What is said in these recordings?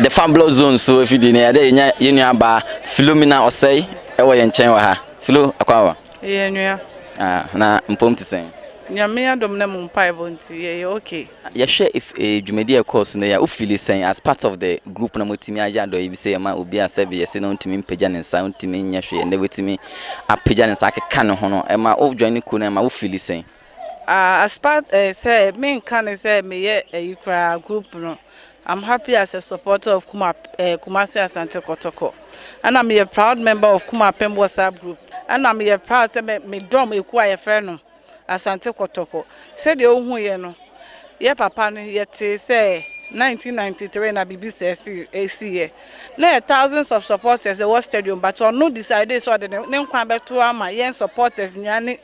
the fan block zone so afidie no yɛde yɛnya yɛn nua baa filomina ɔsɛe ɛwɔ yɛn nkyɛn wɔ ha filo akwawa yɛ nua ah, na mpom te sɛn nyame adom na mu mpaebɔ nti yɛyɛ okay yɛhwɛ eh, dwumadi a ɛkɔɔ so no yɛ wofili sɛn as part of the group na motumi ayɛ adɔyɛ bi sɛ yɛma obi a sɛ bi yɛse no ntumi mpagya ne nsa ntumi nyɛ hwee ɛnɛ wotumi apagya ne nsa akeka ne ho no ɛma wojoin ne kuo no ɛma wofili sɛn Ah as part eh, sɛ menka ne sɛ meyɛ ayi eh, koraa group no I'm happy as a supporter of Kuma, eh, Kumasi Asante Kotoko ɛna meyɛ proud member of Kuma Pem WhatsApp group ɛna meyɛ proud sɛ medɔm ɛku a yɛfrɛ no Asante Kotoko sɛdeɛ wohu yɛ no yɛ papa no yɛtee sɛ 1993 na biribi sɛ ɛsiyɛ na yɛ thousands of supporters ɛwɔ stadium but ɔno decide sɛ ɔde ne nkwa bɛto ama yɛn supporters nyinaa ne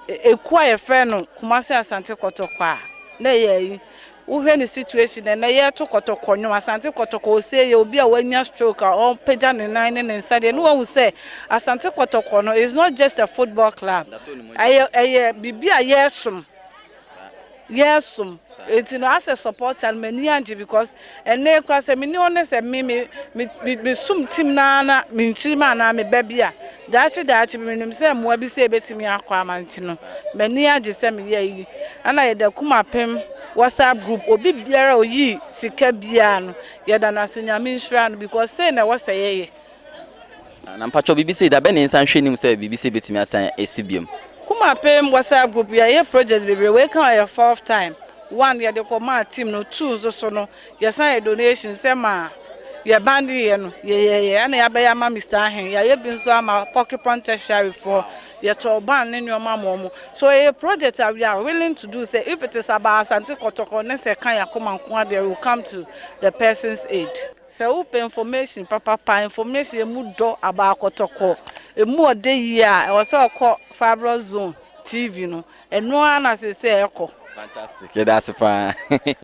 Ekuo a yɛfrɛ no Kumasi Asante Kɔtɔkɔ a na ɛyɛ yi wohwɛ ne situation na na yɛreto kɔtɔkɔ nnwom Asante Kɔtɔkɔ ɔsɛ yɛ obi a wanya stroke a ɔpagya ne nan ne ne nsa deɛ ne wahu sɛ Asante Kɔtɔkɔ no is not just a football club ɛyɛ ɛyɛ biribi a yɛresom yɛɛsom enti no asɛ supporter no m'ani angye because ɛnɛ kora sɛ meni hɔ ne sɛ me me me me som team no ara na menkyiri ma anaa meba bi a daakye daakye bi menim sɛ mmoa bi sɛ ebetumi akɔ ama nti no m'ani agye sɛ meyɛ yi ɛna yɛda kuma pem whatsapp group obi biara oyi sika biara no yɛda no ase nyame nhyira no because sɛ na ɛwɔ sɛ yɛyɛ Na mpakyɛw biribi sei da bɛn na yɛnsan nhwɛ anim sɛ biribi sei betumi asan asi biom? Kumapem WhatsApp group yɛyɛ project bebree wei ka yɛ fourth time one yɛde kɔ maa team no two nso so no yɛsan yɛ donation sɛ ma yɛ band yɛ no yɛyɛyɛ ɛna yɛabɛyɛ ama Mr Ahen yɛayɛ bi nso ama Porcupine tertiary foɔ yɛtɔɔ band ne nneɛma ma ɔmo so ɛyɛ project a we are willing to do sɛ if it is about Asante kɔtɔkɔ ne sɛ ka yɛ akoma nko adeɛ we will come to the person's aid. Sɛ wo pɛ information papapa, information emu dɔ aba akɔtɔkɔ, emu ɔdɛ yie a, ɛwɔ sɛ ɔkɔ Fibroid Zone TV no. Ɛno ara na seesei ɛkɔ. Fantastic, yɛda ase paa.